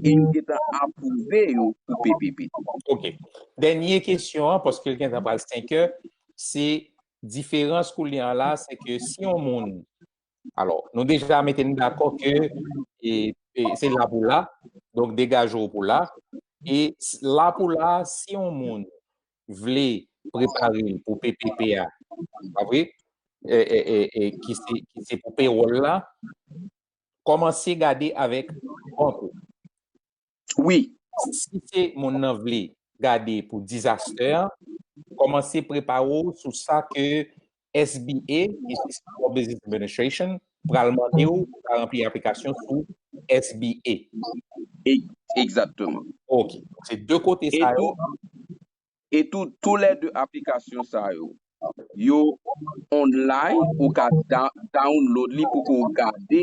e yo gen tan apwouve yo pou PPP. Ok. Dènye kesyon an, paske l gen tan pral 5 è, se diferans koulye a la se ke si yon moun, alò nou deja mete n dakò ke se la pou la, donk degaje w pou la, e la pou la si yon moun vle prepare l pou ppp a, pa vre? ki se pou pewòl la, kòmanse gade avèk bank ou. Wi. Si se moun nan vle gade pou disaster, kòmanse prepare w sou sa ke SBA, Business Small Business Administration, pral mande ou pou ta ranpli aplikasyon sou SBA. Egzakteman. Ok. Se de kote sa yo. E tou, tou lè de aplikasyon sa yo, yo online, ou ka download li pou ke ou gade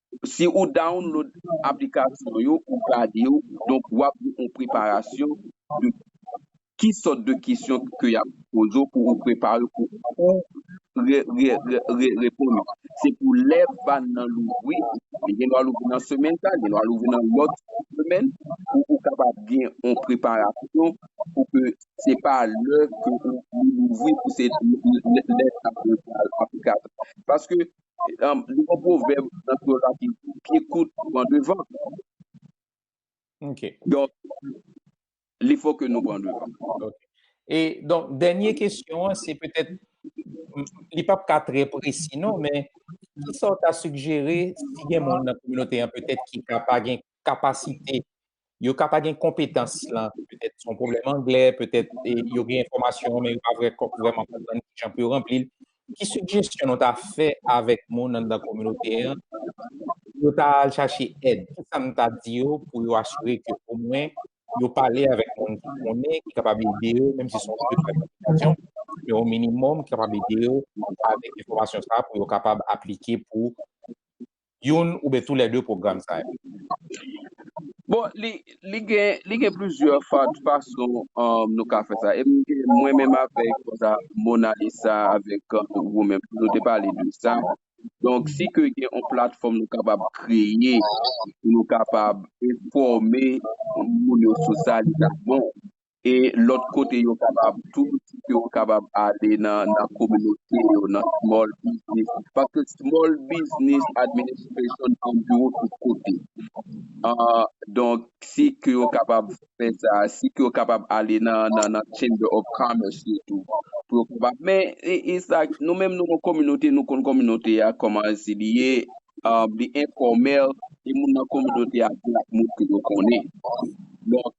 Si ou download aplikasyon yo, ou gade yo, donk w ap gen yon preparasyon de ki sòt de kesyon ke y ap poze w pou ou prepare w pou ou re reponn yo. Se pou lè vann nan louvri, li gen dwa louvri nan semèn sa, li gen dwa louvri nan lòt semèn, pou ou kapab gen yon preparasyon pou ke se pa lè ke li louvri pou se lè sa pou ou pral aplikasyon. Paske Li gon pwovèb nan kreyòl la ki di, pye kout pran devan. Donk, li fò ke nou pran devan. E, donk, dènye kesyon an, se petèt, li pap ka trè presi non, men, kisa w ta sigjere si gen moun nan kominote an petèt ki ka pa gen kapasite, yo ka pa gen konpetans lan, petèt son pwoblèm anglè, petèt yo gen enfòmasyon men yo pa vrèman konprann ki jan pou yo ranpli l. Ki sigjesyon nou ta fè avèk moun anndan kominote an pou yo ta al chache èd? Ki sa nou ta di yo pou yo asire ke omwen yo pale avèk moun ki konnen, ki kapab ede yo, menm si son gwo detay nan aplikasyon, men on minimòm ki kapab ede yo avèk enfòmasyon sa a pou yo kapab aplike pou youn oubyen tou lè de pwogram sa yo? Bon, li gen plizyè fason nou ka fè sa. E mwen menm avèk Monalisa, avèk ou menm, nou te pale de sa. Donk, si ke gen yon platfòm nou kapab kreye, nou kapab enfòme moun yo sou sa, li ta bon. e lòt kote yo kapab tou si yo kapab ale nan nan kominote yo nan small business paske small business administration gen biwo tout kote aa donk si ke yo kapab fè sa si ke yo kapab ale nan nan nan chamber of commerce yo tou pou yo kapab men e e sa nou menm nou gon kominote nou konn kominote a kòman si li ye aa li enfòmèl e moun nan kominote a gen ak moun ke yo konnen donk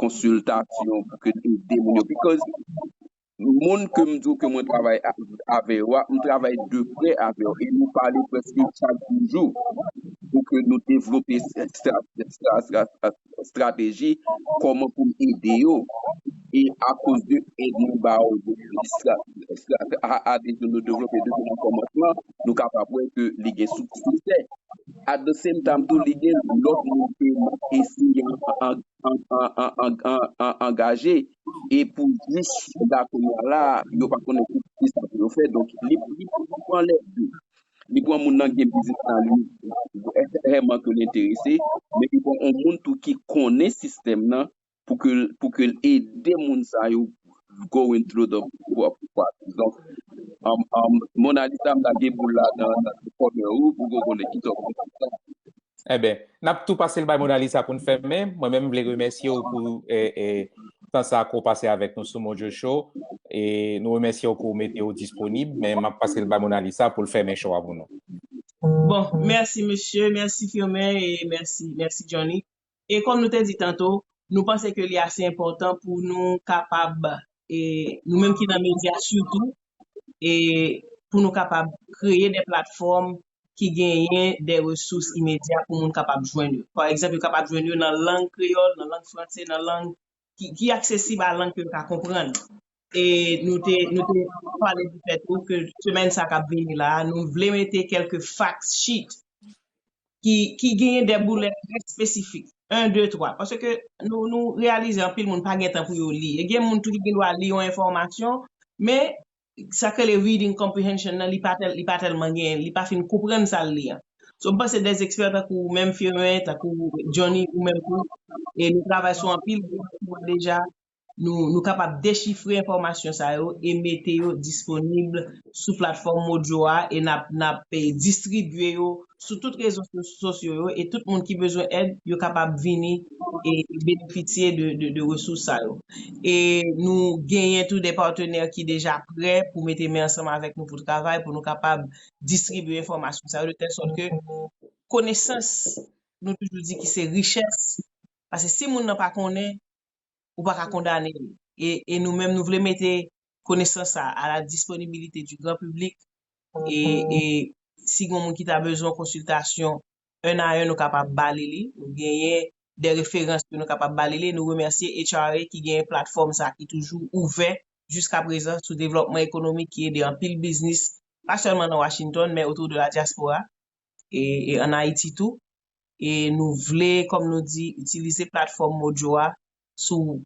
konsiltasyon pou ke te ede moun yo bikòz moun ke m di w ke mwen travay avè yo a, m travay de prè avè yo e nou pale prèske chak jou jou pou ke nou devlope estrateji kòman pou m ede yo e akoz de èd nou ba yo estrateji nou devlope depi nan kòmansman nou kapab wè ke li gen siksè. At the same time tou li gen lòt moun ke eseye angaje e pou jis jouda kounya la a yo pa konnen kisa pou yo fè donk li pran lè di li pran moun nan gen biznis nan li vèman ke li enterese men li pran on moun tou ki konnen sistèm nan pou ke pou ke l ede moun sa yo going through the process donk Monalisa m lage boul la nan kònè ou pou ke w konnen ki sa w pral fè ak li. Enben, n ap tou pase l bay Monalisa pou n fèmen. Mwen menm m vle remèsye w pou tan sa ke w pase avèk nou sou Mojo Show. E nou remèsye w ke w mete w disponib men m ap pase l bay Monalisa pou l fèmen show a pou nou. Bon, mèsi mesye, mèsi Firmin e mèsi Johnny. E kòm nou te di tanto, nou panse ke li ase enpòtan pou nou kapab, e nou menm ki nan medya sitou, e pou nou kapab kreye de platfòm ki genyen de resous imedya pou moun kapab jwenn yo. Pa egzanp, yo kapab jwenn yo nan lang kreyòl, nan lang franse, nan lang ki aksesib a lang ke yo ka konprann. E nou te pale di fèt tou ke semèn sa kap vini la, nou vle mete kelke fact sheet ki genyen de boulè trè espesifik, 1, 2, 3. Pase ke nou reyalize anpil moun pa gen tan pou yo li. E gen moun tou ki gen dwa li yon enfòmasyon, men sak rele reading comprehension nan li pa tèl li pa tèlman gen li pa fin konprann sa l li an. So m panse des expert tankou ou menm Firmin, tankou Johnny ou menm tou e nou travay sou anpil dokiman deja nou nou kapab dechifre enfòmasyon sa yo e mete yo disponib sou platfòm Mojo a e n ap n ap distribye yo sou tout rezo sosyo yo e tout moun ki bezwen èd yo kapab vini e benefisye de resous sa yo. E nou genyen tou de patenè ki deja prè pou mete men ansanm avèk nou pou travay pou nou kapab distribye enfòmasyon sa yo de tèl sòt ke konesans nou toujou di ki se richès pase si moun nan pa konnen ou pa ka kondane li. E nou menm nou vle mete konesans sa a la disponibilite di gran piblik e si gen yon moun ki ta bezwen yon konsiltasyon 1 a 1 nou kapab ba li li. Nou genyen de referans ke nou kapab ba li li. Nou remèsye HRA ki genyen platfòm sa ki toujou ouvè jiska prezan sou devlòpman ekonomik ki ede anpil biznis pa sèlman nan Washington men otou de la diaspora. e an Ayiti tou. E nou vle, kòm nou di, itilize platfòm Mojo a sou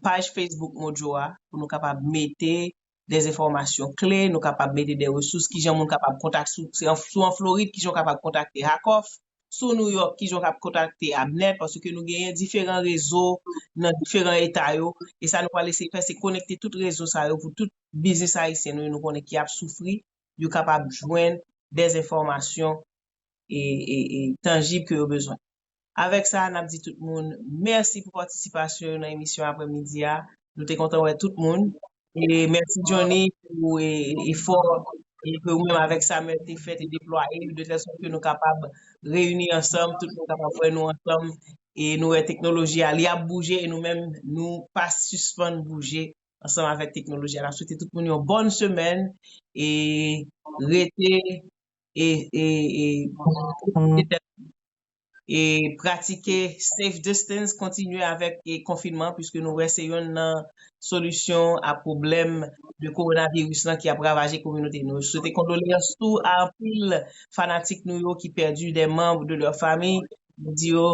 paj Facebook Mojo a pou nou kapab mete de enfòmasyon kle, nou kapab mete de resous, kijan moun kapab kontak, si w an Florid, kijan w kapab kontakte Hakoff, si w Nouyòk, kijan w kapab kontakte Abner, paske nou genyen diferan rezo nan diferan eta yo. E sa nou pral eseye fè, se konekte tout rezo sa yo pou tout biznis ayisyen nou yo nou konnen ki ap soufri yo kapab jwenn des enfòmasyon tanjib ke yo bezwen. Avèk sa, n ap di tout moun mèsi pou patisipasyon yo nan emisyon aprè midi a. Nou te kontan wè tout moun. Mèsi Johnny pou efò ke ou menm avèk Samuel te fè, te deplwaye de tèl sòt ke nou kapab reyini ansanm, tout moun kapab wè nou ansanm e nou wè teknoloji a li ap bouje e nou menm nou pa sispann bouje ansanm avèk teknoloji a. N ap swete tout moun yon bòn semèn e rete e e pratike safe distance, kontinye avèk konfinman puiske nou wè se yonn nan solisyon a pwoblèm de kowonaviris lan ki ap ravaje kominote nou. Swete kondoleyans tou a anpil fanatik nou yo ki pèdi de manb de lè famiy. Nou di yo,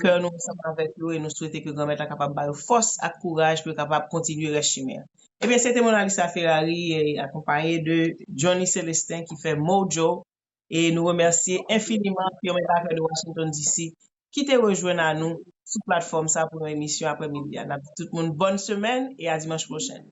kè nou ansanm avèk yo e nou swete ke Granmèt la kapab ba yo fòs ak kouraj pou yo kapab kontinye rès chimen an. Ebyen, se te Monalisa Ferrari e akonpaye de Johnny Celestin ki fè Mojo e nou remèsye enfiniman Firmin Parker de Washington DC ki te rejwenn a nou sou platfòm sa pou yon emisyon aprè midi a. N ap di tout moun bòn semèn e a dimanch pwochen.